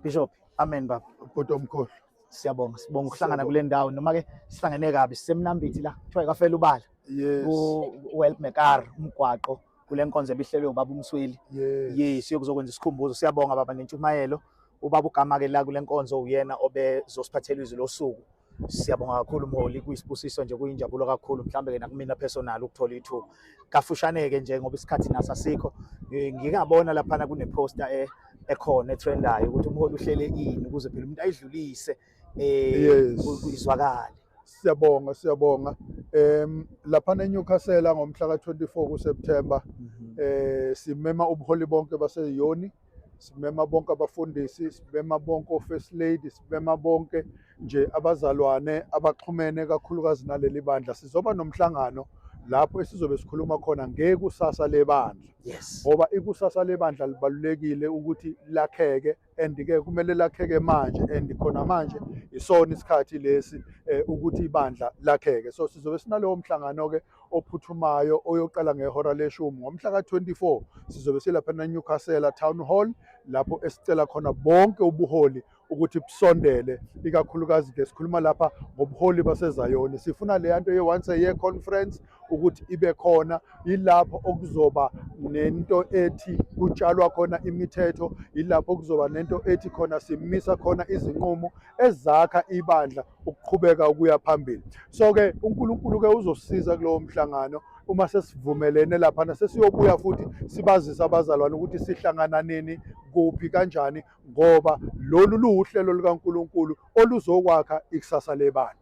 Bishop. Amen baba. Ubhuti omkhulu. Siyabonga. Sibonga ukuhlangana kule ndawo noma ke sihlangene kabi sisemnambithi la. Kuthiwa ikafela ubala. Yes. U help mekar umgwaqo kule nkonzo ebihlelwe ubaba umsweli. Yes. Yes, yokuzokwenza isikhumbuzo. Siyabonga baba nentshumayelo. Ubaba ugama ke la kule nkonzo uyena obezosiphathela izwi losuku. Siyabonga kakhulu mholi, kuyisibusiso nje kuyinjabulo kakhulu mhlambe ke nakumina personal ukuthola ithuba. Kafushane ke nje ngoba isikhathi naso asikho. Ngingabona lapha kune poster e ekhona etrendayo ukuthi umholi uhlele ini ukuze phela umuntu ayidlulise eh izwakale. Siyabonga siyabonga. Em lapha eNewcastle ngomhla ka24 kuSeptember mhm. eh simema ubuholi bonke baseyoni simema bonke abafundisi simema bonke ofirst lady simema bonke nje abazalwane abaxhumene kakhulukazi naleli bandla sizoba nomhlangano lapho esizobe sikhuluma khona ngekusasa lebandla yes ngoba ikusasa lebandla libalulekile ukuthi lakheke and ke kumele lakheke manje and khona manje isona isikhathi lesi eh, ukuthi ibandla lakheke so sizobe sinalowo mhlangano ke ophuthumayo oyoqala ngehora leshumi ngomhla ka-24 sizobe silapha nenewcastle town hall lapho esicela khona bonke ubuholi ukuthi busondele ikakhulukazi ke sikhuluma lapha ngobuholi basezayoni sifuna leya nto ye-once a year conference ukuthi ibe khona yilapho okuzoba nento ethi kutshalwa khona imithetho yilapho okuzoba nento ethi khona simisa khona izinqumo ezakha ibandla ukuqhubeka ukuya phambili so ke uNkulunkulu ke uzosiza kulowo mhlangano uma sesivumelene lapha nasesiyobuya futhi sibazisa abazalwane ukuthi sihlangana nini kuphi kanjani ngoba lolu luwuhlelo likaNkulunkulu oluzokwakha ikusasa lebandla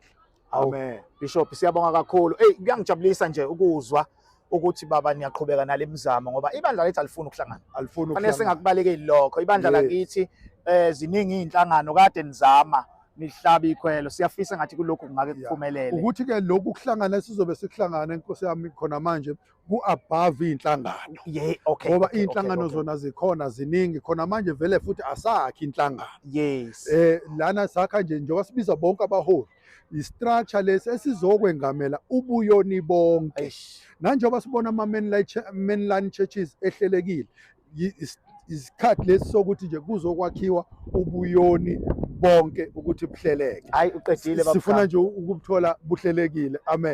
amen bishop siyabonga kakhulu hey kuyangijabulisa nje ukuzwa ukuthi baba niyaqhubeka nale mizamo ngoba ibandla lethu alifuni ukuhlangana alifuni ukuhlangana singakubalekeli lokho ibandla lakithi eh ziningi izinhlangano kade nizama nihlaba ikhwelo siyafisa ngathi kulokhu kungake kuphumelele ukuthi ke lokhu kuhlangana sizobe sikuhlangana inkosi yami khona manje ku above inhlangano yeah okay ngoba okay, inhlangano okay, zona zikhona ziningi khona manje vele futhi asakhi inhlangano yes eh lana sakha nje njengoba sibiza bonke abaholi yistructure lesi esizokwengamela ubuyoni bonke Eish. nanjengoba sibona ama-mainline churches ehlelekile yi- is- isikhathi lesi sokuthi nje kuzokwakhiwa ubuyoni bonke ukuthi buhleleke hayi uqedile baba sifuna nje ukubuthola buhlelekile amen